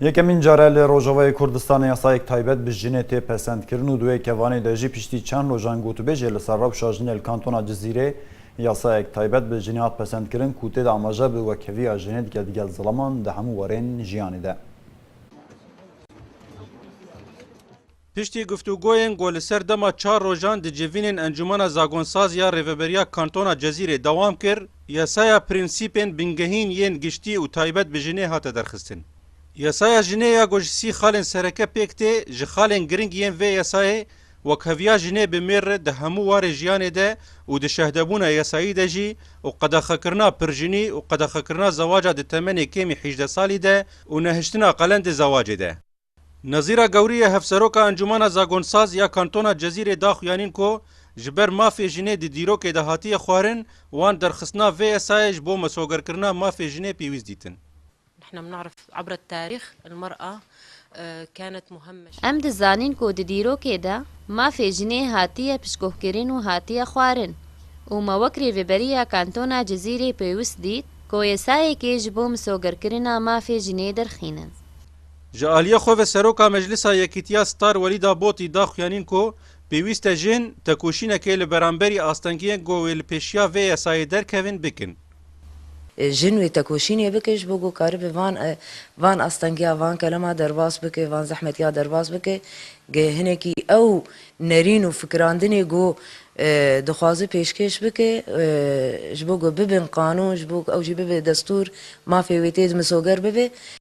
Yekemîn care li Rojavayê Kurdistanê yasayek taybet bi jinê tê pesendkirin û di wê kevanê de jî piştî çend rojan gotûbêjê li ser rewşa jinê li kantona Cizîrê yasayek taybet bi jinê hat pesendkirin ku tê de amaje bi wekheviya jinê dike digel zilaman di hemû warên jiyanê de. Piştî guftûgoyên ku li ser dema çar rojan di civînên Encûmena Zagonsazî ya Rêveberiya Kantona Cezîrê dewam kir, yasaya prensîpên bingehîn yên giştî û taybet bi jinê hate derxistin. Yasaya jinê ya ku ji sî xalên sereke pêk tê, ji xalên giring yên vê yasayê wek heviya jinê bi mêr re di hemû warê jiyanê de û di şehdebûna yasayî de jî û qedexekirina pirjinî û qedexekirina zewaca di temenê kêmî hîjdeh salî de û nehiştina qelendê zewacê de Nezîra Gewrî ye Hevseroka Encûmena Zagonsaz ya Kantona Cezîrê da xuyanîn ku ji ber mafê jinê di dîrokê de hatiye xwarin, wan derxistina vê yasayê ji bo mesûgerkirina mafê jinê pêwîst dîtin. Em dizanîn ku di dîrokê de mafê jinê hatiye pişkohkirin û hatiye xwarin û me wek Rêveberiya Kantona Cezîrê pêwist dît ku yasayekê ji bo misûgerkirina mafê jinê derxînin. Ji aliyê xwe ve Seroka Meclisa Yekîtiya Star Welîda Botî da xuyanîn ku pêwîst e jin tekoşînekê li beramberî astengiyên ku wê li pêşiya vê yasayê derkevin bikin. Jin wê tekoşînê bikin ji bo ku karibe van van astengiya van kelema derbas bike, van zehmetiya derbas bike. Geh hinekî ew nerîn û fikirandinê ku dixwaze pêşkêş bike ji bo ku bibin qanûn, ji bo ku ew jî bibe destûr, mafê wê tê di misoger bibe,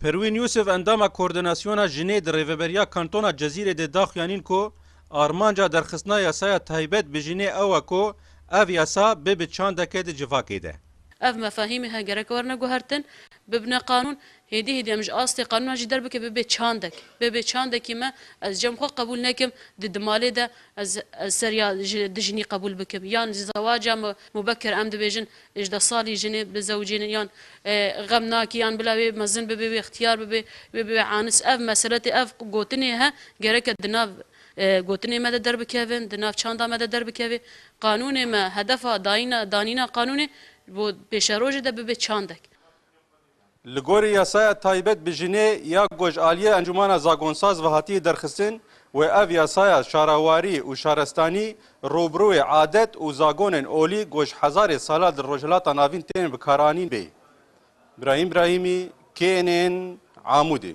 Perwîn Yûsif endama Koordînasyona Jinê di Rêveberiya Kantona Cezîrê de daxuyanîn ku armanca derxistina yasaya taybet bi jinê ew e ku ev yasa bibe çandeke di civakê de. Ev mefahîmî he gerek werne guhertin, bibne qanûn, hêdî hêdî em ji astê qanûna jî derbike bibe çandek. Bibe çandekî me ez cem xwe qebûl nekim di di malê de ez ez ser ya di jinî qebûl bikim yan ji zewaca mubekir em dibêjin Hejda salî jin ê, bi zewcê ne yan xem nake yan bila wê mezin bibe, wê xtiyar bibe, wê bibe anis. Ev meseletê, ev gotinê he gereke di nav gotinê me de derbikevin, di nav çanda me de derbikeve. Qanûnê me hedefa dayîna, danîna qanûnê ji bo pêşerojê de bibe çandek. Li gorî yasaya taybet bi jinê ya ku ji aliyê Encûmana Zagonsaz ve hatiye derxistin wê ev yasaya şarawarî û şarestanî rûbirûyê adet û zagonên olî ku ji hezarê salan li Rojhilata Navîn tên bikaranîn bê. Brahîm Brahîmî, KNN, Amûdê.